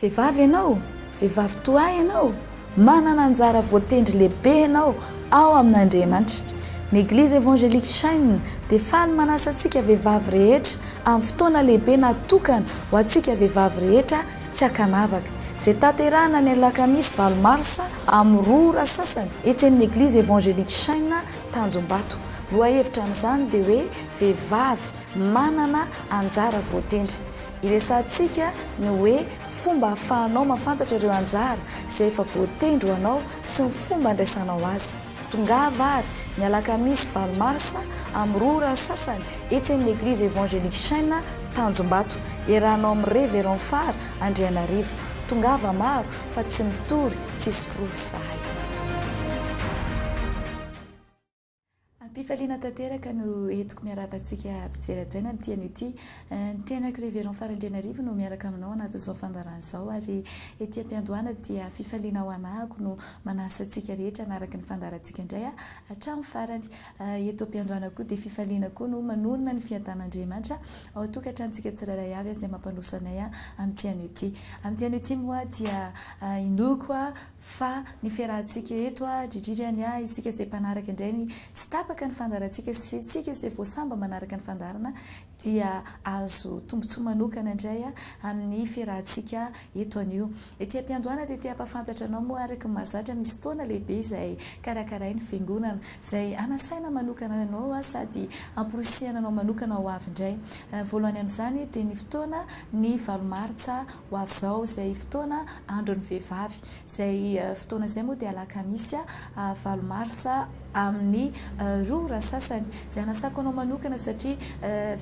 Vehivavy ianao, vehivavy toa ahy ianao, manana anjara voatendry lehibe ianao ao amin'Andriamanitra. Ny Eglizy Evangelique Shine dia faly manasa antsika vehivavy rehetra amin'ny fotoana lehibe natokana ho antsika vehivavy rehetra tsy ankanavaka, izay tanterahina ny alakamisy valo marsa amin'ny roa ora sasany etsy amin'ny Eglizy Evangelique Shine Tanjombato. Lohahevitra amin'izany dia hoe Vehivavy manana anjara voatendry. Iresahantsika ny hoe fomba ahafahanao mahafantatra ireo anjara izay efa voatendry ho anao sy ny fomba andraisanao azy. Tongava àry, ny alakamisy valo marsa, amin'ny roa ora sasany, etsy amin'ny Eglizy Evangelique Chêne, Tanjombato. Iarahanao amin'i Révérend Fara Andrianarivo. Tongava maro, fa tsy mitory, tsisy porofo izahay. Am-pifaliana tanteraka no entiko miarahaba antsika mpijery hajaina amin'ity anio ity. Ny tenako Révérend Farandrianarivo no miaraka aminao anatin'izao fandaharana izao ary ety am-piandohana dia fifaliana ho anahako no manasa antsika rehetra hanaraka ny fandaharantsika indray hatramin'ny farany. Eto am-piandohana koa dia fifaliana koa no manorina ny fiadanan'Andriamanitra ao an-tokantranontsika tsirairay avy izay mampandroso anay amin'ity anio ity. Amin'ity anio ity moa dia inoako Fa ny fiarahantsika eto a, dridridry any a, isika izay mpanaraka indray ny tsy tapaka ny fandaharantsika sy isika izay vao samba manaraka ny fandaharana dia azo tombontsoa manokana indray a, amin'ny fiarahantsika eto anio. Ety am-piandohana dia te hampahafantatra anao moa araka ny mahazatra misy fotoana lehibe izay karakarain'ny fiangonana, izay hanasaina manokana anao sady hamporisihana anao manokana ho avy indray. Voalohany amin'izany dia ny fotoana ny valo martsa Ho avy izao izay fotoana andron'ny vehivavy. Izay fotoana izay moa dia alakamisy valo marsa amin'ny roa ora sasany. Izay hanasako anao manokana satria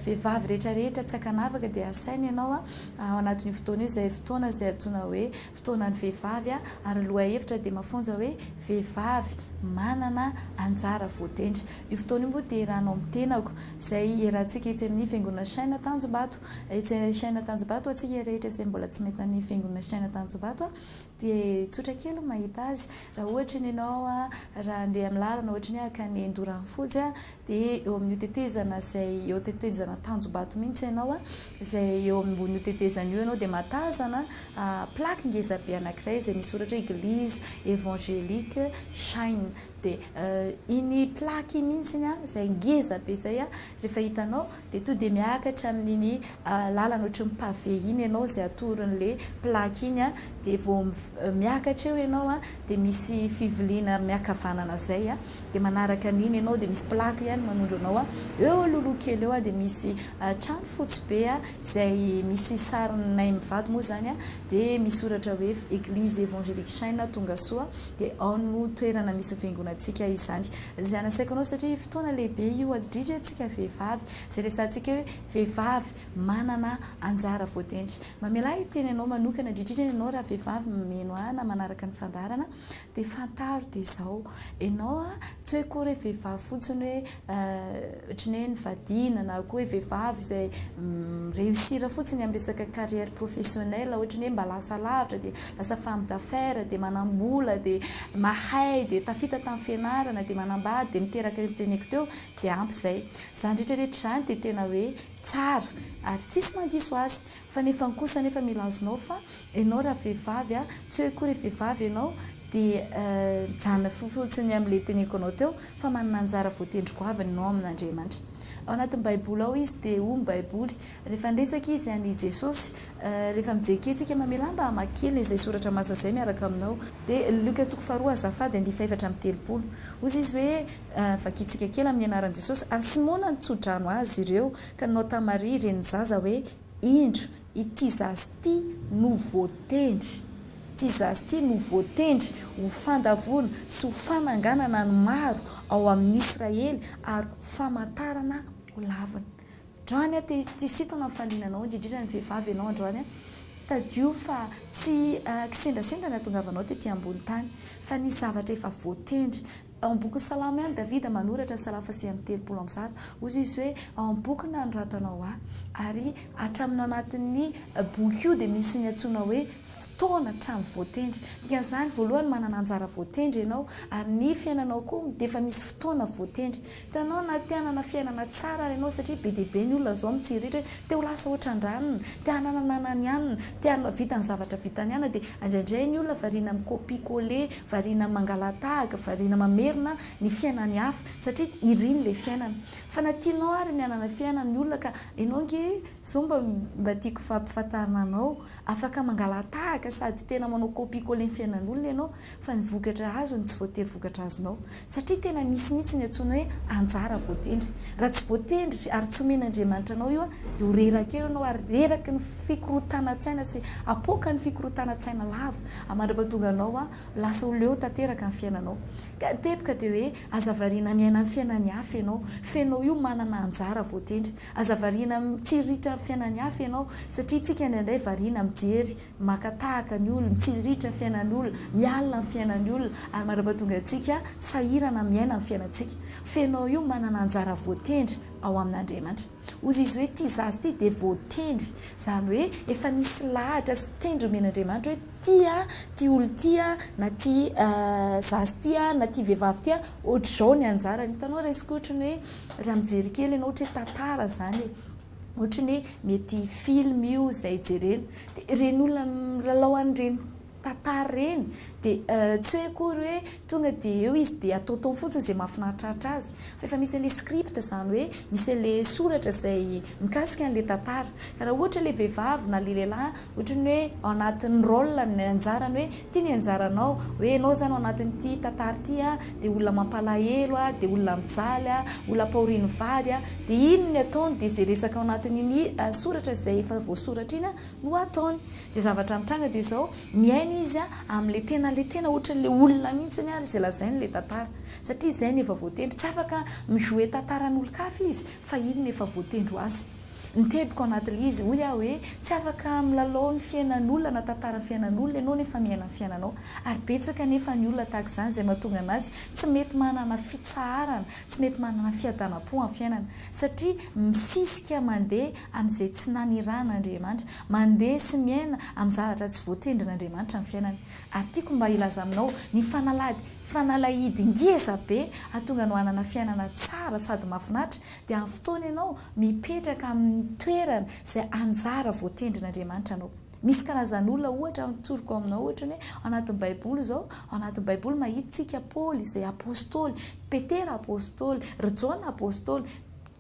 vehivavy rehetra rehetra tsy ankanavaka dia asaina ianao ao anatin'io fotoana io izay fotoana izay antsoina hoe fotoanan'ny vehivavy ary ny lohahevitra dia mafonja hoe vehivavy manana anjara voatendry. Io fotoana io moa dia eranao amin'ny tenako, izay iarahantsika etsy amin'ny Fiangonana Shina Tanjombato. Etsy Shina Tanjombato, ho antsika rehetra izay mbola tsy mahita ny Fiangonana Shina Tanjombato, dia tsotra kely ny mahita azy. Raha ohatra ny ianao, raha handeha amin'ny lalana ohatra ny hoe hankany Andoranofotsy, dia eo amin'io tetezana izay eo tetezana Tanjombato mihitsy ianao, izay eo ambonin'io tetezana io ianao dia mahatazana plaque ngeza be anankiray izay misoratra hoe Eglise Evangelique Shina. Dia iny plaque iny mihitsy izay ngeza be izay rehefa hitanao dia tonga dia miakatra amin'iny lalana ohatry ny pavé iny ianao izay atoron'ilay plaque iny dia vao miakatra eo ianao dia misy fiviliana miankavanana izay dia manaraka an'iny ianao dia misy plaque ihany manondro anao eo alohaloha kely eo dia misy trano fotsy be izay misy sarinay mivady moa izany dia misoratra hoe église évangélique Shina Tongasoa Dia ao no toerana misy vengonantsika izany. Izay nasaiko anao satria fotoana lehibe io adridry antsika vehivavy. Izay resahantsika hoe vehivavy manana anjara voatendry. Mamelà hiteny anao manokana adridridry any ianao raha vehivavy mameno ahy na manaraka ny fandaharana dia fantaro dia izao. Ianao a, tsy hoe akory hoe vehivavy fotsiny hoe. Ohatran'ny hoe nivadiana na koa hoe vehivavy izay mi-reussir fotsiny amin'ny resaka carrière professionnelle, ohatran'ny hoe mba lasa lavitra dia lasa femme d'affaires, dia manam-bola, dia mahay, dia tafita tamin'ny fianarana, dia manambady, dia miteraka io teneko teo, dia ampy izay. Izany rehetra rehetra izany dia tena hoe tsara ary tsisy mandiso azy. Fa nefany kosa anefa mila azonao fa enao raha vehivavy a, tsy hoe akory vehivavy enao de mijanona fotsiny amle teneniko anao teo fa manana anjara voatendry goavana enao amin'Andriamanitra. Ao anatin'ny baiboly ao izy de hoy ny baiboly rehefa niresaka izy an'i Jesosy rehefa mijery kely tsika mamelà mba hamaky kely izay soratra masina izay miaraka aminao. De Luc toko faharoa azafady andifa efatra amby telopolo. Hozy izy hoe vakintsika kely amin'ny anaran'i Jesosy ary Simona nitsodrano azy ireo ka nanao tamin'i Maria renin'ny zaza hoe. Indro, ity zaza ity no voatendry, ity zaza ity no voatendry ho fandavoana sy ho fananganana ny maro ao amin'ny Israely ary ho famantarana ho lavina. Androany an, te te hisintona ny fahaliana anao, indrindrindra ny vehivavy ianao androany an, tadidio fa tsy kisendrasendra ny hahatongavanao tety ambony tany, fa nisy zavatra efa voatendry, Ao amin'ny bokin'i Salamo ihany Davida manoratra ny Salamo fahasivy amby telopolo amby zato. Hoy izy hoe, Ao amin'ny boky nanoratanao ahy. Ary hatramin'ny anatin'ny boky io dia misy ny antsoina hoe fotoana hatramin'ny voatendry. Dikan'izany, voalohany manana anjara voatendry ianao, ary ny fiainanao koa dia efa misy fotoana voatendry. Hitanao na te hanana fiainana tsara ary ianao satria be dia be ny olona izao mitsiriritra hoe te ho lasa ohatra an-dranony, te hanana ny anan'ny anona, te hahavita ny zavatra vitan'ny anona dia indraindray ny olona variana mi-copier coller, variana mangala-tahaka, variana mamerina ny fiainan'ny hafa satria iriny ilay fiainana. Fa na tianao ary ny hanana fiainana ny olona ka ianao ange izao mba mba tiako hampifantarina anao, afaka mangala-tahaka sady tena manao copier coller ny fiainan'olona ianao fa ny vokatra azony tsy voatery vokatra azonao, satria tena misy mihitsy ny antsoina hoe anjara voatendry, raha tsy voatendry ary tsy omen'Andriamanitra anao io dia ho reraka eo ianao ary reraky ny fikorontanan-tsaina sy apoaka ny fikorontanan-tsaina lava ary mandrapatonga anao ho lasa ho leo tanteraka ny fiainanao ka ny teboka dia hoe aza variana miaina ny fiainan'ny hafa ianao fa ianao io manana anjara voatendry aza variana mitsiriritra ny fiainan'ny hafa ianao satria isika indraindray variana mijery Maka tahaka ny olona, mitsiriritra ny fiainan'ny olona, miala amin'ny fiainan'ny olona ary mandrapa tonga antsika sahirana miaina ny fiainantsika. Fenao io manana anjara voatendry ao amin'Andriamanitra. Ozy izy hoe ty zaza ty dia voatendry, izany hoe efa nisy lahatra sy tendry omen'Andriamanitra hoe ty a, ty olona ty a, na ty zaza ty a, na ty vehivavy ty a, ohatr'izao ny anjarany. Hitanao resiko ohatrany hoe raha mijery kely ianao ohatry hoe tantara izany e. Ohatry ny hoe mety film io izay jerena. Dia ireny olona milalao an'ireny tantara ireny dia tsy hoe akory hoe tonga dia eo izy dia ataotaony fotsiny izay mahafinaritraritra azy. Fa efa misy an'ilay script izany hoe misy an'ilay soratra izay mikasika an'ilay tantara. Ka raha ohatra ilay vehivavy na ilay lehilahy Ohatry ny hoe ao anatin'ny rôle-ny, ny anjarany hoe ity ny anjaranao, hoe ianao izany ao anatin'ity tantara ity dia olona mampalahelo, dia olona mijaly, olona ampahorian'ny vady, dia iny ny ataony dia izay resaka ao anatin'iny soratra izay efa voasoratra iny no ataony. Dia zavatra mitranga dia izao, miaina izy amin'ilay tena ilay tena ohatry ny ilay olona mihitsy ary izay lazainy ilay tantara, satria izay no efa voatendry, tsy afaka mi-jouer tantaran'olon-kafa izy fa iny no efa voatendry ho azy. Nitebiko anatl izy, hoy aho hoe, tsy afaka milalao ny fiainan'olona na tantaran'ny fiainan'olona ianao nefa miaina ny fiainanao. Ary betsaka anefa ny olona tahaka izany izay mahatonga an'azy tsy mety manana fitsaharana, tsy mety manana fiadanam-po amin'ny fiainana. Satria misisika mandeha amin'izay tsy nanirahan'Andriamanitra, mandeha sy miaina amin'ny zavatra tsy voatendrin'Andriamanitra ny fiainany. Ary tiako mba hilaza aminao ny fanalady, fanalahidy ngeza be hahatonga anao hanana fiainana tsara sady mahafinaritra dia amin'ny fotoana ianao Mipetraka amin'ny toerana izay anjara voatendrin'Andriamanitra anao. Misy karazan'olona ohatra tsoriko aminao ohatra ny hoe ao anatin'ny baiboly izao, ao anatin'ny baiboly mahitintsika Paoly izay apostoly, Petera apostoly, ry Jaona apostoly,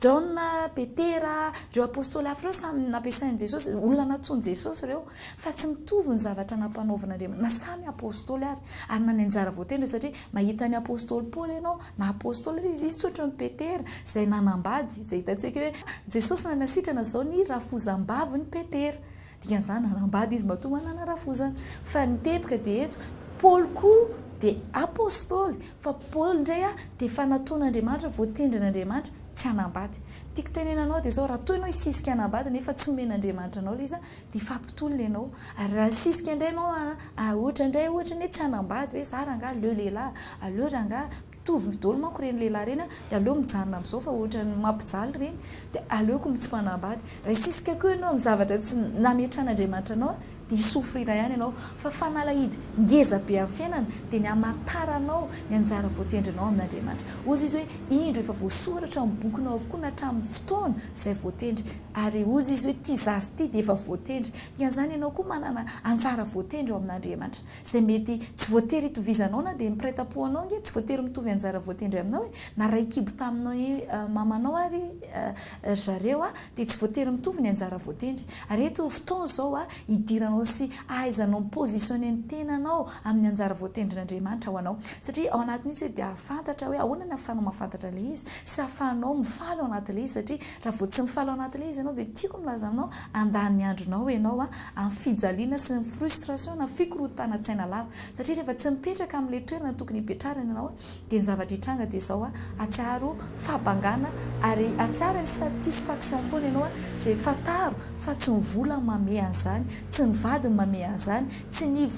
Jaona, Petera, ireo apostoly hafa ireo samy nampiasain'i Jesosy, olona nantsoin'i Jesosy ireo, fa tsy mitovy ny zavatra nampanaovin'Andriamanitra, na samy apostoly ary, ary na ny anjara voatendriny satria mahita an'i apostoly Paoly ianao, Na apostoly aza izy, izy tsy ohatran'i Petera izay nanambady, izay hitantsika hoe Jesosy nanasitrana izao ny rafozam-bavin'i Petera. Dikan'izany nanambady izy matoa manana rafozana. Fa ny teboka dia eto, Paoly koa dia apostoly, fa Paoly indray a, dia efa nataon'Andriamanitra, voatendrin'Andriamanitra tsy hanambady. Ny tiako tenenana anao dia izao, raha toa ianao hisisika hanambady nefa tsy omen'Andriamanitra anao ilay izy a, Dia fampitolona ianao. Ary raha nisisika indray ianao ary ohatra indray ohatra ny hoe tsy hanambady hoe za rangaha aleo lehilahy, aleo rangaha mitovy daholo manko ireny lehilahy ireny dia aleo mijanona amin'izao fa ohatran'ny mampijaly ireny dia aleoko tsy manambady. Raha hisisika koa ianao amin'ny zavatra tsy nametrahan'Andriamanitra anao dia hi souffrir ihany ianao. Fa fanalahidy ngeza be amin'ny fiainana dia ny hamantaranao ny anjara voatendrinao amin'Andriamanitra. Hoy Izy hoe indro efa voasoratra amin'ny bokinao avokoa na hatramin'ny fotoana izay voatendry. Ary hozy izy hoe, Ity zaza ity dia efa voatendry. Dikan'izany ianao koa manana anjara voatendry ao amin'Andriamanitra. Izay mety tsy voatery hitovizanao na dia ny mpiray tam-po anao ange tsy voatery mitovy anjara voatendry aminao e! Na ray kibo taminao i mamanao ary ry zareo dia tsy voatery mitovy ny anjara voatendry. Ary eto fotoana izao hidiranao sy hahaizanao mi-positionner ny tenanao amin'ny anjara voatendrin'Andriamanitra ho anao. Satria ao anatiny mihitsy dia hahafantatra hoe ahoana ny ahafahanao mahafantatra ilay izy sy ahafahanao mifaly ao anatin'ilay izy satria Raha vao tsy mifaly ao anatin'ilay izy ianao dia tiako ny hilaza aminao, handany ny andronao ianao amin'ny fijaliana sy ny frustration na fikorontanan-tsaina lava. Satria rehefa tsy mipetraka amin'ilay toerana tokony hipetrarana ianao dia ny zavatra hitranga dia izao, atsaharo fahabangana ary atsaharo insatisfaction foana ianao izay fantaro fa tsy ny vola no mamehy an'izany, tsy ny vady no mamehy an'izany, tsy ny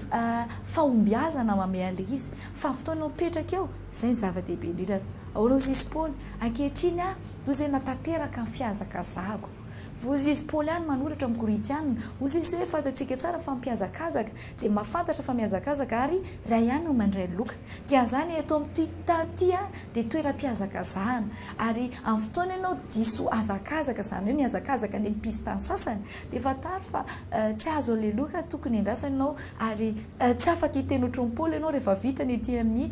fahombiazana mamehy an'ilay izy fa ny fotoana eo mipetraka eo, izay no zava-dehibe indrindra. Ahoana hozy izy Paoly? Ankehitriny aho, noho izay natanteraka ny fihazakazahako. Voizy izy Paoly ihany manoratra amin'ny Korintiana, hoy izy, Sao hoe fantatsika tsara fa mpihazakazaka dia mahafantatra fa mihazakazaka ary iray ihany no mandray loka. Dia anzany eto amin'ity tany ity aho dia toeram-pihazakazahana. Ary amin'ny fotoana ianao diso hazakazaka, izany hoe mihazakazaka any amin'ny piste-ny sasany, dia fantaro fa tsy azo aleloka tokony endrasana ianao ary, Tsy afaka hiteny ohatran'i Paoly ianao rehefa vita ny ety amin'ny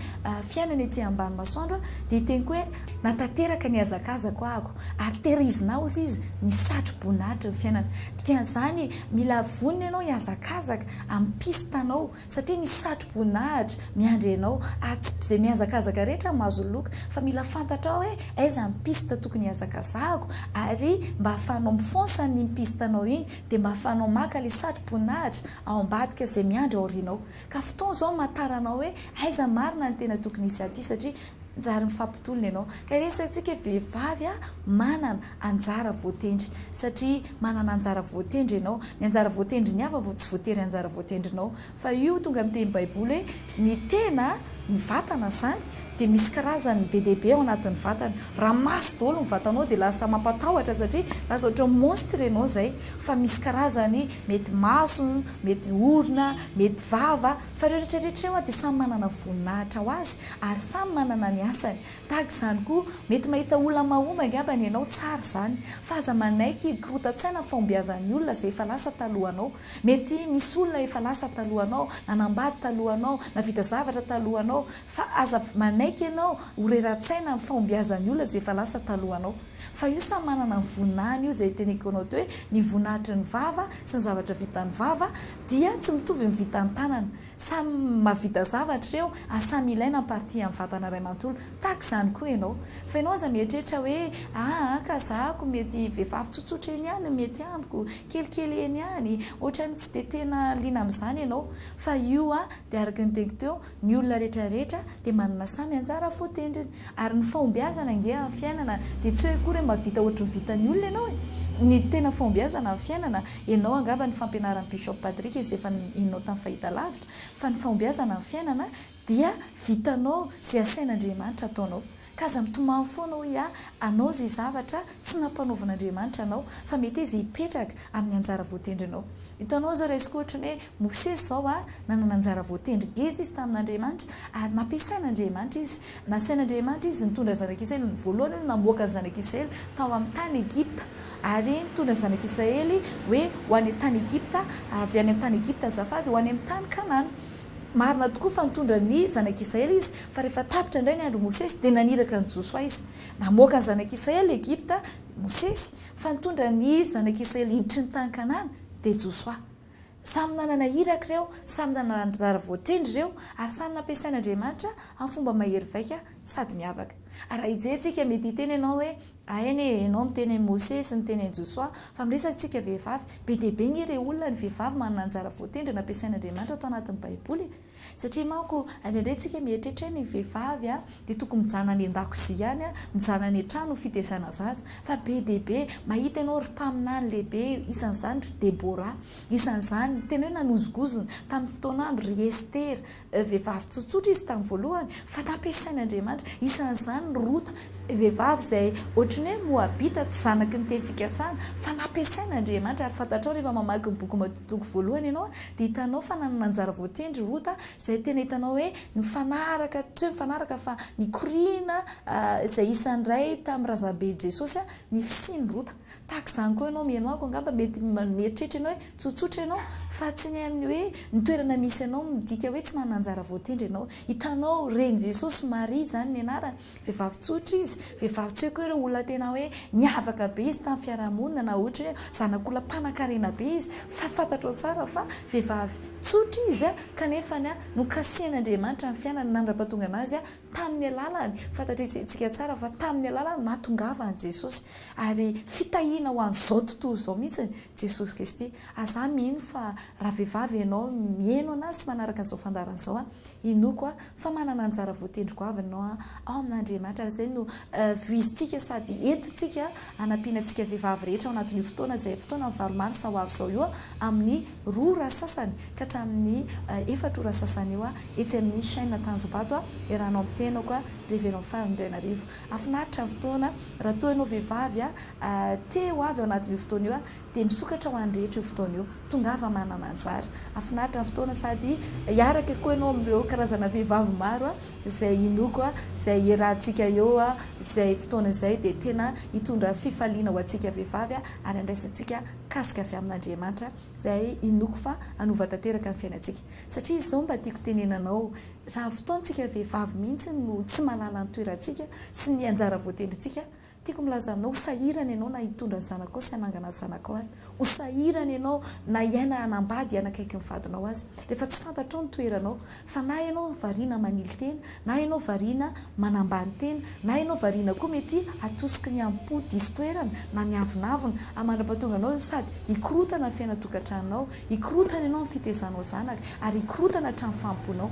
fiainana ety ambany masoandro dia hiteny koa hoe, Na tanteraka ny hazakazako ahako, ary tehirizina aho, hoy izy, ny satroboninahitry ny fiainana. Dikan'izany, mila vonona ianao hihazakazaka amin'ny piste anao, satria misy satroboninahitra miandry anao, ary tsy izay mihazakazaka rehetra no mahazo loka, fa mila fantatrao hoe aiza ny piste tokony hihazakazahako, ary mba ahafahanao mi-fonce an'iny piste anao iny, dia mba ahafahanao maka ilay satroboninahitra, ao ambadika izay miandry aorianao ka fotoana izao amantarana anao hoe aiza marina ny tena tokony hisy aty satria njary mifampitolona ianao ka iresatsika hoe vehivavy a manana anjara voatendry satria manana anjara voatendry ianao ny anjara voatendry ny hafa vao tsy voatery anjara voatendrinao fa io tonga miteny baiboly hoe Ny tena, ny vatana izany, dia misy karazany be dia be ao anatin'ny vatana. Raha maso daholo ny vatanao dia lasa mampatahotra satria lasa ohatran'ny monstre ianao izay. Fa misy karazany, mety maso, mety orona, mety vava. Fa ireo rehetra rehetra ireo dia samy manana voninahitra ho azy ary samy manana ny asany. Tahaka izany koa, mety mahita olona mahomby angambany ianao, tsara izany. Fa aza manaiky hikorontan-tsaina ny fahombiazan'ny olona izay efa lasa talohanao. Mety misy olona efa lasa talohanao, nanambady talohanao, nahavita zavatra talohanao, fa aza manaiky ianao ho reratsaina amin'ny fahombiazan'ny olona izay efa lasa talohanao. Fa io samy manana ny voninahiny io izay teneko anao teo hoe ny voninahitry ny vava sy ny zavatra vitan'ny vava dia tsy mitovy ny vitan'ny tanana. Samy mahavita zavatra ireo ary samy ilaina ny partie amin'ny vatana iray manontolo. Tahaka izany koa ianao. Fa ianao aza mieritreritra hoe, aa ka zahako mety vehivavy tsotsotra eny ihany no mety amiko, kelikely eny ihany, ohatran'ny tsy dia tena liana amin'izany ianao. Fa io dia araka ny teniko teo, ny olona rehetra rehetra dia manana samy anjara voatendriny. Ary ny fahombiazana ange amin'ny fiainana dia tsy hoe akory hoe mba vita ohatry ny vitan'ny olona ianao e! Ny tena fahombiazana amin'ny fiainana, ianao angamba ny fampianaran'i Bishop Patrick izay efa nihainao tamin'ny fahitalavitra, fa ny fahombiazana amin'ny fiainana dia vitanao izay asain'Andriamanitra ataonao. Ka aza mitomany foana hoe ha anao izay zavatra tsy nampanaovin'Andriamanitra anao, fa mety izy hipetraka amin'ny anjara voatendrinao. Hitanao izao raisiko ohatry ny hoe Mosesy izao a, nanana anjara voatendry ngeza izy tamin'Andriamanitra ary nampiasain'Andriamanitra izy. Nasain'Andriamanitra izy nitondra ny zanak'Israely, voalohany hono namoaka ny zanak'Israely tao amin'ny tany Egypta ary nitondra ny zanak'Israely hoe ho any an-tany Egypta, avy any amin'ny tany Egypta azafady, ho any amin'ny tany Kanana. Marina tokoa fa nitondra ny zanak'Israely izy fa rehefa tapitra indray ny andron'i Mosesy dia naniraka an'i Josoa izy. Namoaka ny zanak'Israely Egypta Mosesy fa nitondra ny zanak'Israely hiditry ny tany Kanana dia Josoa. Samy nanana iraka ireo, samy nanana anjara voatendry ireo, ary samy nampiasain'Andriamanitra amin'ny fomba mahery vaika sady miavaka. Raha hijery-tsika, mety hiteny ianao hoe, Aena e, ianao miteny an'i Mose sy niteny an'i Josoa, fa miresak-tsika vehivavy. Be dia be ange ireo olona, ny vehivavy, manana anjara voatendry nampiasain'Andriamanitra tao anatin'ny Baiboly e! Satria manko indraindray tsika mieritreritra hoe ny vehivavy dia tokony mijanona any an-dakozia ihany, mijanona any an-trano ho fitezana zaza. Fa be dia be, mahita ianao ry mpaminany lehibe, isan'izany ry Debora, isan'izany tena hoe nanozongozona tamin'ny fotoan'andro ry Estera, vehivavy tsotsotra izy tamin'ny voalohany fa nampiasain'Andriamanitra, isan'izany ry Rota, Izay vehivavy izay ohatry ny hoe Moabita, tsy zanaky ny teny fikasana, fa nampiasain' Andriamanitra. Ary fantatrao, rehefa mamaky ny boky Mato toko voalohany ianao, dia hitanao fa nanana anjara voatendry Rota, izay tena hitanao hoe nifanaraka, tsy hoe nifanaraka fa nikoriana, izay isan'ny iray tamin'ny razamben'i Jesosy, ny fisian'i Rota. Tahaka izany koa ianao, mihaino amiko, angamba mety mieritreritra ianao hoe tsotsotra ianao, fa tsy ny amin'ny hoe ny toerana misy anao midika hoe tsy manana anjara voatendry ianao. Hitanao, ren'i Jesosy, Maria izany ny anarany. Vehivavy tsotra izy, vehivavy tsy hoe koa ireo olona tena hoe niavaka be izy tamin'ny fiarahamonina na ohatra hoe zanak'olona mpanankarena be izy fa fantatrao tsara fa vehivavy tsotra izy kanefa nokasihan'Andriamanitra ny fiainany nandra-pahatongana azy tamin'ny alalany, fantatr'isika tsara fa tamin'ny alalany nahatongavany Jesosy ary fitahiana ho an'izao tontolo izao mihitsy Jesosy Kristy, aza mino fa raha vehivavy ianao mihaino an'ahy sy manaraka an'izao fandaharana izao inoako Fa manana anjara voatendry goavana ianao ao amin'Andriamanitra ary izay no voizintsika sady entintsika hanampiana antsika vehivavy rehetra ao anatin'io fotoana izay fotoanan'ny valo marsa ho avy izao io amin'ny roa ora sasany ka hatramin'ny efatra ora sasany eo etsy amin'ny chaine Tanjombato iarahanao amin'ny tenako Révérend Fary Ndrainarivo. Hafinaritra ny fotoana raha toa ianao vehivavy te ho avy ao anatin'io fotoana io Dia misokatra ho an'ny rehetra io fotoana io. Tongava manana anjara. Hafinaritra ny fotoana sady hiaraka koa ianao amin'ireo karazana vehivavy maro izay inoako, izay hiarahantsika eo izay fotoana izay dia tena hitondra fifaliana ho antsika vehivavy ary handraisantsika kasika avy amin'Andriamanitra izay inoako fa hanova tanteraka ny fiainantsika. Satria izao mba tiako tenena anao, raha ny fotoantsika vehivavy mihitsy no tsy mahalala ny toerantsika sy ny anjara voatendrintsika Tiako milaza aminao, ho sahirana ianao na hitondra ny zanakao sy hanangana ny zanakao aza. Ho sahirana ianao na hiaina hanambady hanakaiky ny vadinao aza. Rehefa tsy fantatrao ny toeranao, fa na ianao variana manily tena, na ianao variana manambany tena, na ianao variana koa mety hatosiky ny hamipo diso toerana na ny avonavona ary mandra-pahatonga anao sady hikorotana ny fiainan-tokantranonao, hikorotana ianao amin'ny fitezanao zanaka ary hikorotana hatrany famponao.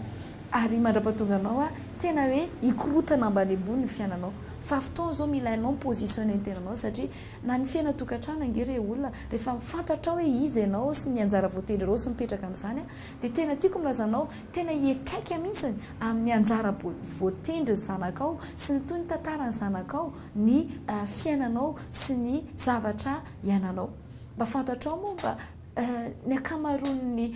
Ary mandrapatonga anao a tena hoe hikorotana ambany ambony ny fiainanao fa fotoana izao mila hainao mi positionner ny tenanao satria na ny fiaina tokantrano ange re olona rehefa fantatrao hoe iza ianao sy ny anjara voatendrinao sy mipetraka amin'izany a dia tena tiako ny lazanao tena hiatraika mihintsy amin'ny anjara voatendrin'ny zanakao sy ny toy ny tantaran'ny zanakao ny fiainanao sy ny zavatra iainanao mba fantatrao moa mba Ny ankamaroan'ny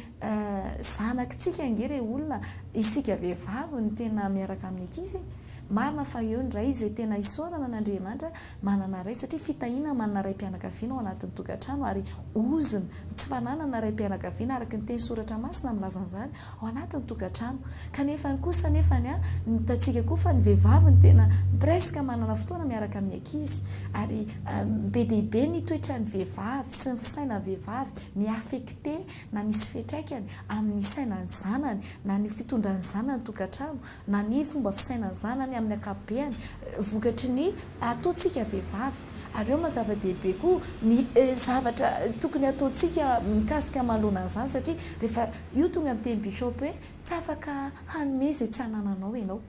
zanakitsika ange re olona isika vehivavy no tena miaraka amin'ny ankizy e! Marina fa eo ny ray izay tena isaorana an'Andriamanitra manana ray satria fitahiana manana raim-pianakaviana ao anatin'ny tokantrano ary ozona, ny tsy fananana raim-pianakaviana araka ny teny soratra masina milaza an'izany, ao anatin'ny tokantrano kanefany kosa nefany a ny hitantsika koa fa ny vehivavy no tena presque manana fotoana miaraka amin'ny ankizy ary be dia be ny toetran'ny vehivavy sy ny fisainan'ny vehivavy mi-affecté na misy fiantraikany amin'ny sainan'ny zanany na ny fitondran'ny zanany tokantrano na ny fomba fisainan'ny zanany amin'ny ankapobeany vokatry ny ataontsika vehivavy ary eo mazava dehibe koa ny zavatra tokony ataontsika mikasika manoloana an'izany satria rehefa Io tonga niteny bishop hoe tsy afaka hanome izay tsy anananao ianao.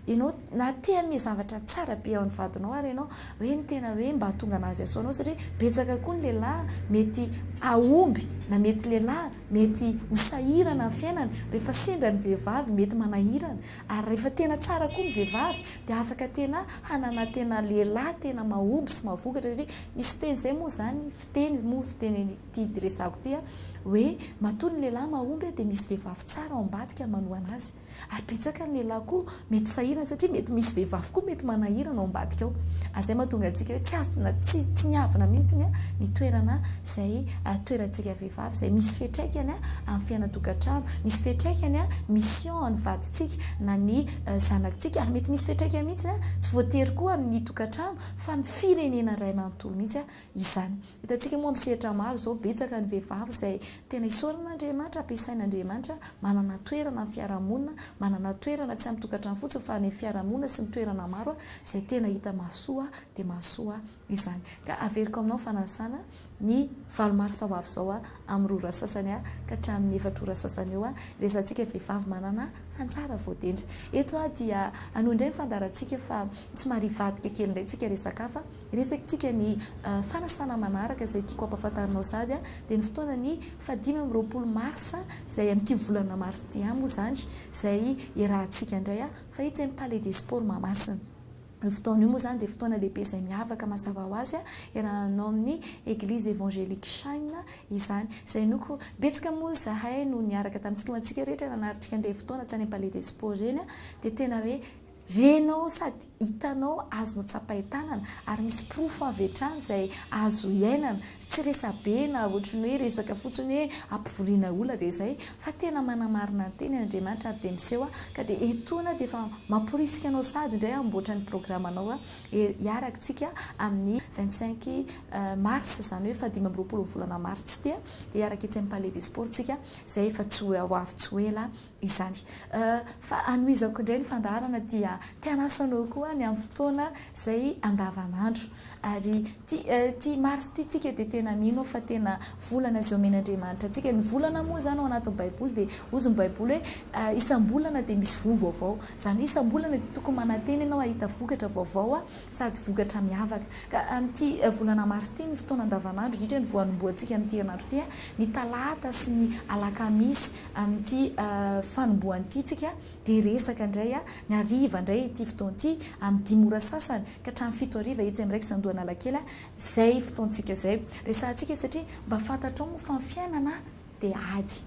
Ianao na te hanome zavatra tsara be an'ny vadinao ary ianao hoe ny tena hoe mba hahatonga an'azy hasoa anao satria betsaka koa ny lehilahy mety hahomby na mety lehilahy mety ho sahirana amin'ny fiainany rehefa sendra ny vehivavy mety manahirana ary rehefa tena tsara koa ny vehivavy dia afaka tena hanana tena lehilahy tena mahomby sy mahavokatra satria misy fiteny izay moa izany fiteny moa fiteny ity diresako ity a, hoe matoa ny lehilahy mahomby a dia misy vehivavy tsara ao ambadika manohana azy, ary betsaka ny lehilahy koa mety sahirana satria mety misy vehivavy koa mety manahirana ao ambadika ao, ary izay mahatonga antsika hoe tsy azo na tsy tsy niavona mihitsy ny ny toerana izay toerantsika vehivavy izay misy fiatraikany a amin'ny fiainan-tokantrano, misy fiatraikany a mission an'ny vadintsika na ny zanakintsika ary mety misy fiatraikany mihitsy a tsy voatery koa amin'ny tokantrano fa ny firenena iray manontolo mihitsy a. izany. Hitantsika moa amin'ny sehatra maro izao, betsaka ny vehivavy izay tena isaorana Andriamanitra, ampiasain' Andriamanitra, manana toerana amin'ny fiarahamonina, manana toerana tsy amin'ny tokantrano fotsiny fa any amin'ny fiarahamonina sy ny toerana maro izay tena hita mahasoa dia mahasoa izany. Ka averiko aminao fanasana ny valo marsa ho avy izao amin'ny roa ora sasany ka hatramin'ny efatra ora sasany eo hiresahantsika vehivavy manana anjara voatendry. Eto dia hanohy indray ny fandaharantsika fa somary hivadika kely indray isika resaka hafa Resakintsika ny fanasana manaraka izay tiako hampafantarinao sady dia ny fotoanan'ny faha dimy amby roapolo marsa izay amin'ity volana marsa ity ihany moa izany izay iarahantsika indray fa etsy amin'ny palais des sports Mahamasina. Io fotoana io moa izany dia fotoana lehibe izay miavaka mazava ho azy iarahanao amin'ny Eglise Evangelique Shine izany izay inoako betsaka moa izahay no niaraka tamintsika ho antsika rehetra nanaritrika an'ilay fotoana tany amin'ny palais des sports ireny dia tena hoe Renao sady hitanao azonao tsapain-tanana ary misy porofo avy hatrany izay azo iainana. Tsy resa-be na ohatry ny hoe resaka fotsiny hoe hampivoriana olona dia izay fa tena manamarina ny teniny Andriamanitra ary dia miseho ka dia etoana dia efa mamporisika anao sady indray hamboatra ny programanao hiaraka isika amin'ny vingt cinq mars izany hoe fahadimy amby roapolo ny volana martsy ity dia hiaraka etsy amin'ny palais des sports isika izay efa tsy ho avy tsy ho ela izany. Fa anohizako indray ny fandaharana dia te hanasa anao koa ny amin'ny fotoana izay andavanandro. Ary ity ity Marsa ity tsika dia tena mino aho fa tena volana izay omen'Andriamanitra antsika. Ny volana moa izany ao anatin'ny baiboly dia hozy ny baiboly hoe isam-bolana dia misy voa vaovao. Izany hoe isam-bolana dia tokony manantena ianao hahita vokatra vaovao sady vokatra miavaka. Ka amin'ity volana marsa ity ny fotoana andavanandro indrindra ny voanombohantsika amin'ity herinandro ity, ny talata sy ny alakamisy, Amin'ity fanombohana ity isika dia resaka indray ny hariva indray ity fotoana ity, amin'ny dimy ora sasany ka hatramin'ny fito hariva etsy amin'ny Rex Andohanalakely izay fotoantsika izay. Resahantsika izy satria mba fantatrao moa fa ny fiainana dia ady.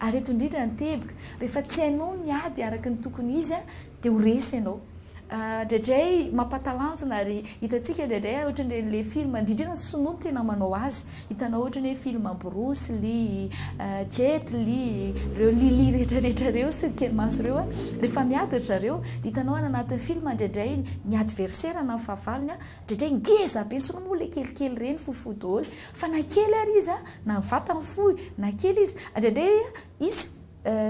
Ary eto indrindra ny teboka, rehefa tsy hainao ny ady araka ny tokony izy Dia ho resy ianao. Indraindray mampatalanjona ary hitantsika indraindray ohatran'ireny ilay film, indrindra ny sinoa no tena manao azy, hitanao ohatran'ny hoe film Bruce Lee, Jet Li, ireo Li Li rehetrarehetra ireo sy ny kely maso ireo, rehefa miady ry zareo dia hitanao any anatin'ny film indraindray ny adversaire na ny fahavalony indraindray ngeza be, sinoa moa ilay kelikely ireny fohifohy daholo fa na kely ary izy na ny vatany fohy na kely izy, indraindray izy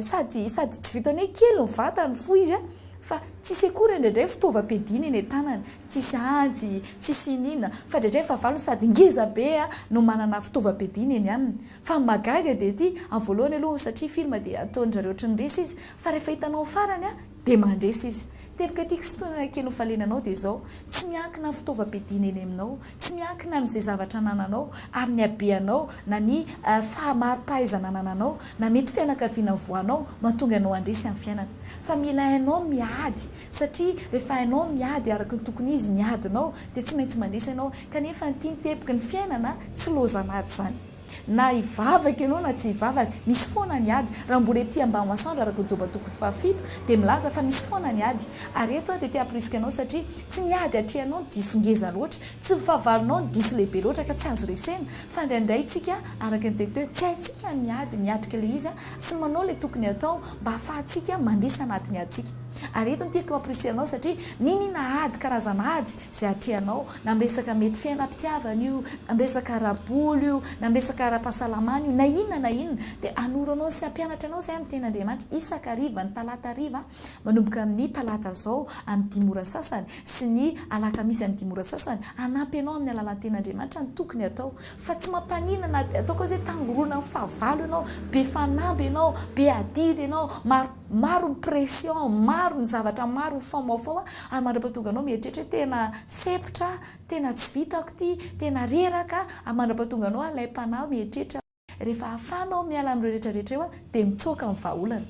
Sady sady tsy vitan'ny hoe kely ny vatany, fohy izy a! fa tsy sekoura indraindray fitaovam-piadiana eny an-tanany, tsisy antsy, tsisy iniana, fa indraindray fahavalony sady ngeza be a! no manana fitaovam-piadiana eny aminy. Fa ny mahagaga dia ity, amin'ny voalohany aloha satria film dia ataon-dry zareo ohatry ny resy izy, fa rehefa hitanao ny farany a! Dia mandresy izy. Teboka tiako sy tena kely nofaliana anao dia izao, tsy miankina amin'ny fitaovam-piadiana eny aminao, tsy miankina amin'izay zavatra anananao, ary ny habeanao, na ny fahamari-pahaizana anananao, na mety fianakaviana nivoahanao, mahatonga anao handresy amin'ny fiainana. Fa mila hainao ny miady, satria rehefa hainao ny miady araka ny tokony izy ny adinao, dia tsy maintsy mandresy ianao. Kanefa ny tian'i Teboky ny fiainana, tsy lozan'ady izany. Na hivavaka ianao na tsy hivavaka, misy foana ny ady. Raha mbola ety Ambanimasoandro, araka Joba toko fahafito, dia milaza fa misy foana ny ady. Ary eto aho dia te hampirisika anao satria tsy ny ady atrehanao no diso ngeza loatra, tsy ny fahavalonao no diso lehibe loatra ka tsy azo resena, fa indraindray isika, araka ny teny teo, tsy haintsika ny miady, miatrika ilay izy sy manao ilay tokony hatao mba hahafahantsika mandresy anatin'ny adintsika. Ary eto no tiako hampirisihana anao satria niniana ady, karazana ady izay atrehanao. Na amin'ny resaka mety fiainam-pitiavana io, na amin'ny resaka ara-bola io, na amin'ny resaka ara-pahasalamana io, na inona na inona, dia hanoro anao sy hampianatra anao izay amin'ny Teny Andriamanitra isaka hariva, ny talata hariva, manomboka amin'ny talata izao amin'ny dimy ora sasany, sy ny alakamisy amin'ny dimy ora sasany, hanampy anao amin'ny alalan'ny Teny Andriamanitra ny tokony hatao. Fa tsy mampaninona na dia ataoko hoe izay tangorona amin'ny fahavalo ianao, be fanamby ianao, be adidy ianao, maro. Maro ny pression, maro ny zavatra maro mifaomaofao a, ary mandrapa tonga anao mieritreritra hoe tena sempotra aho, tena tsy vitako ity, tena reraka aho, ary mandrapa tonga anao alaim-panahy mieritreritra. Rehefa ahafahanao miala amin'ireo rehetra rehetra ireo a, dia mitsoaka ny vahaolana.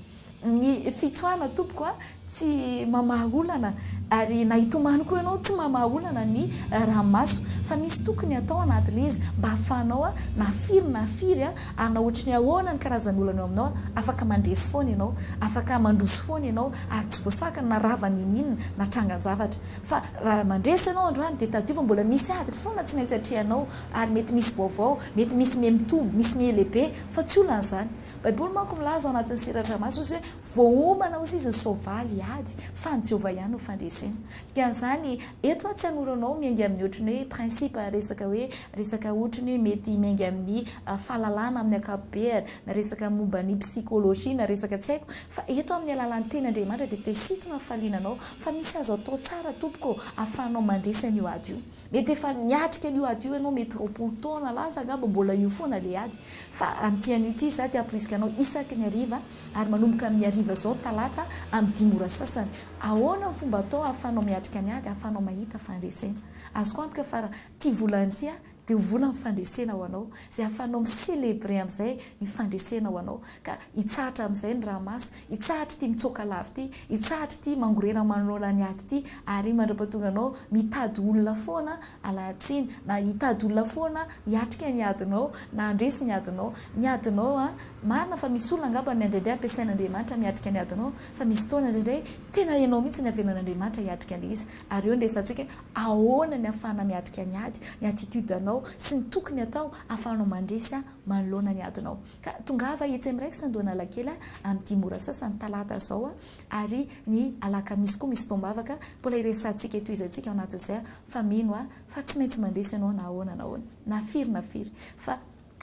Ny fitsoahana tompoko a, tsy mamaha olana, ary na hitomany koa ianao tsy mamaha olana ny ranomaso, fa misy tokony atao anatin'izy mba ahafahanao na firy na firy a, Hanao ohatry ny ahoana ny karazan'olana eo aminao? Afaka mandresy foana ianao, afaka mandroso foana ianao ary tsy voasakana na rava n'inon'inona na trangan-javatra. Fa raha mandresy ianao androany dia tadidio fa mbola misy aditra foana tsy maintsy atrehanao ary mety misy vaovao, mety misy miha mitoby, misy miha lehibe fa tsy olana izany. Baiboly manko milaza ao anatin'ny Seradramasy ozy hoe Voaomana hozy izy ny soavaly hiady fa an'i Jehovah ihany no fandresena. Dikan'izany, eto aho tsy hanoro anao miainga amin'ny ohatrin'ny hoe principe, resaka hoe resaka ohatrin'ny hoe mety miainga amin'ny fahalalana amin'ny ankapobeany, na resaka momba ny psychologie, na resaka tsy haiko, fa eto aho amin'ny alalan'ny Teny Andriamanitra dia te-hisintona ny fahaliana anao, fa misy azo atao tsara tompoko ô, ahafahanao mandresy an'io ady io. Mety efa niatrika an'io ady io ianao, mety roapolo taona lasa angamba mbola io foana ilay ady. Fa amin'ity anio ity izaho te hamporisika anao isaky ny hariva ary manomboka amin'ny hariva izao talata amin'ny dimy ora sasany. Ahoana ny fomba atao ahafahanao miatrika ny ady, ahafahanao mahita fandresena. Azoko antoka fa raha ity volana ity aho dia ho volan'ny fandresena ho anao izay ahafahanao mi-celebrer amin'izay ny fandresena ho anao ka. Hitsahatra amin'izay ny rahamaso, hitsahatra ity mitsoaka lava ity, hitsahatra ity mangorera manao laniady ity, ary mandra-pahatonga anao mitady olona foana alaha-tsiny, na hitady olona foana hiatrika ny adinao, na handresy ny adinao. Ny adinao an, marina fa misy olona angamba ny indraindray ampiasain'Andriamanitra miatrika ny adinao, fa misy fotoana indraindray tena ianao mihitsy no avelan'Andriamanitra hiatrika an'ilay izy. Ary eo no resahantsika hoe ahoana ny ahafahana miatrika ny ady, ny attitude anao sy ny tokony atao ahafahanao mandresy manoloana ny adinao. Ka tongava etsy amin'ny Rex Andohanalakely amin'ity mora sasany talata izao ary ny alakamisy koa misy taom-bavaka, mbola hiresahantsika eto izy antsika ao anatin'izay fa mino aho fa tsy maintsy mandresy ianao na ahoana na ahoana, na firy na firy fa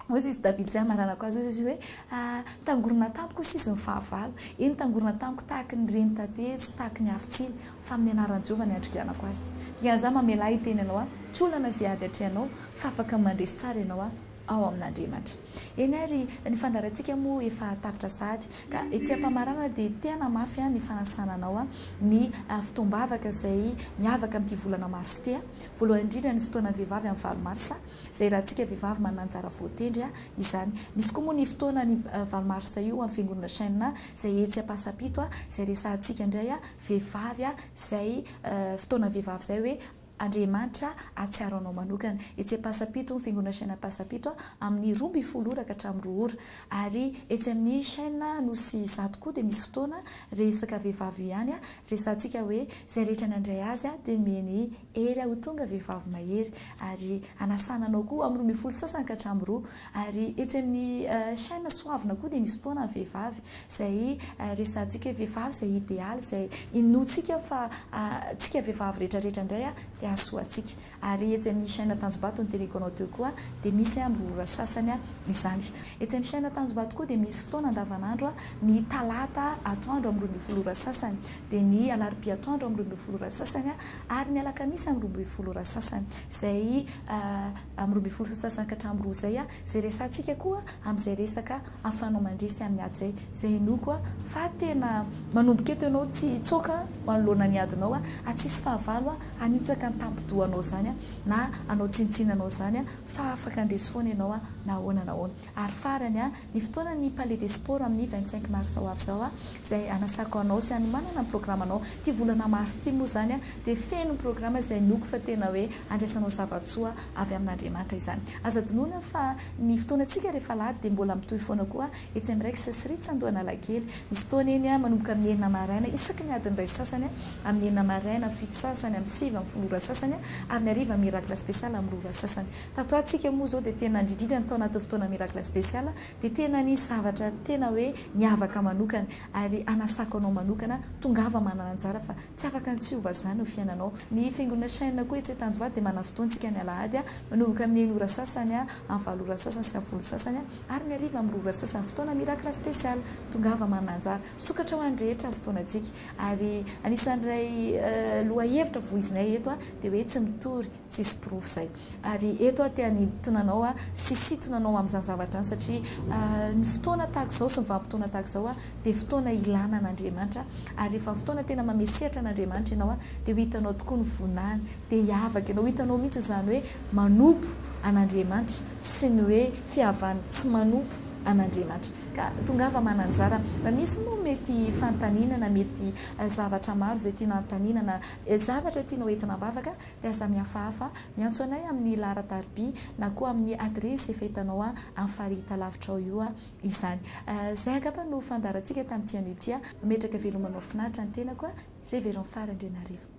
hoy izy David zay amaranako azy hoy izy hoe tangorona tampoka hoy izy ny fahavalo, eny tangorona tamiko tahaky ny reny taty sy tahaky ny havitsiny fa amin'ny anaran'i Jehovah ny andriganako azy. Dikan'izany mamelà hiteny anao aho tsy olana izay ady atrehanao fa afaka mandresy tsara ianao aho. ao amin'Andriamanitra. Eny ary, ny fandaharantsika moa efa tapitra sahady, ka ety am-pamaranana dia tena mafy ny fanasana anao ny fotoam-bavaka izay miavaka amin'ity volana marsa ity. Voalohany indrindra ny fotoanan'ny vehivavy amin'ny valo marsa, izay raha antsika vehivavy manana anjara voatendry izany. Misy koa moa ny fotoanan'ny valo marsa io amin'ny fiangonana Shenna izay etsy Ampasampito, izay resahantsika indray vehivavy izay fotoana vehivavy izay hoe, Andriamanitra hahatsiaro anao manokana. Etsy Ampasampito ny Fiangonana Chaine Ampasampito amin'ny roa ambin'ny folo ora ka hatramin'ny roa ora. Ary etsy amin'ny Chaine Anosizato koa dia misy fotoana resaka vehivavy io ihany, resahantsika hoe izay rehetra nandray azy dia mieni hery ho tonga vehivavy mahery. Ary hanasana anao koa amin'ny roa ambin'ny folo sasany ka hatramin'ny roa. Ary etsy amin'ny chaine soavina koa dia misy fotoana ny vehivavy izay resahantsika hoe vehivavy izay idealy izay inoantsika fa tsika vehivavy rehetra rehetra indray dia hahasoa antsika. Ary etsy amin'ny chaine Tanjombato noteneniko anao teo koa dia misy amin'ny ora sasany izany. Etsy amin'ny chaine Tanjombato koa dia misy fotoana andavanandro ny talata atoandro amin'ny roa ambin'ny folo ora sasany, dia ny alarobia atoandro amin'ny roa ambin'ny folo ora sasany ary ny alakamisy amin'ny roa ambin'ny folo ora sasany izay amin'ny roa ambin'ny folo sasany ka hatramin'ny roa izay, izay resahantsika koa amin'izay resaka ahafahanao mandresy amin'ny ady izay, izay inoako fa tena manomboka eto ianao tsy hitsoaka manoloana ny adinao ary tsy hisy fahavalo hanitsaka ny tampi-dohanao izany na hanao tsinontsinona anao izany fa afaka handresy foana ianao na ahoana na ahoana. Ary farany, ny fotoanan'ny Palais des Sports amin'ny vingt cinq mars ho avy izao, izay hanasako anao sy hanomanana ny programanao. Ity volana mars ity moa izany dia feno programa izay inoako fa tena hoe handraisanao zava-tsoa avy amin'Andriamanitra izany. Aza adinoina fa ny fotoanantsika rehefa alahady dia mbola mitohy foana koa etsy amin'ny Rex sy Ritz Andohanalakely. Misy fotoana eny manomboka amin'ny enina maraina isaky ny adiny iray sasany amin'ny enina maraina, fito sasany amin'ny sivy amin'ny folo ora sasany ary ny hariva Miracle Special amin'ny roa ora sasany. Tato ho atsika moa zao dia tena indrindrindra ny tao anatin'ny fotoana miracle special dia tena nisy zavatra tena hoe niavaka manokana ary hanasako anao manokana tongava manana anjara fa tsy afaka ny tsy ho vazaha ny fiainanao. Ny fiangonana Shine koa etsy Tanjombato dia manana fotoana tsika ny alahady manomboka amin'ny enina ora sasany amin'ny valo ora sasany sy amin'ny folo sasany ary ny hariva amin'ny roa ora sasany fotoana miracle special tongava manana anjara misokatra ho an'ny rehetra ny fotoana tsika ary anisan'ny iray lohahevitra voizinay eto dia hoe tsy mitory Tsisy porofo izay. Ary eto aho te hanintona anao sy hisintona anao amin'izany zavatra izany satria ny fotoana tahaka izao sy ny vanim-potoana tahaka izao dia fotoana ilana an'Andriamanitra ary rehefa fotoana tena mamesehatra an'Andriamanitra ianao dia ho hitanao tokoa ny voninahiny dia hiavaka ianao, ho hitanao mihitsy izany hoe manompo an'Andriamanitra sy ny hoe fihavan'ny tsy manompo an'Andriamanitra. Ka tongava mananjara raha misy moa mety fanontaniana na mety zavatra maro izay tiana hanontaniana na zavatra tianao entina am-bavaka. Mpiasa mihafahafa, miantso anay amin'ny laharan-tariby na koa amin'ny adiresy efa hitanao amin'ny fari-talavitra ao io izany. Izay angamba no fandaharantsika tamin'ity anio ity. Mametraka velomanao finaritra ny tenako, Révérend Fary Andrianarivo.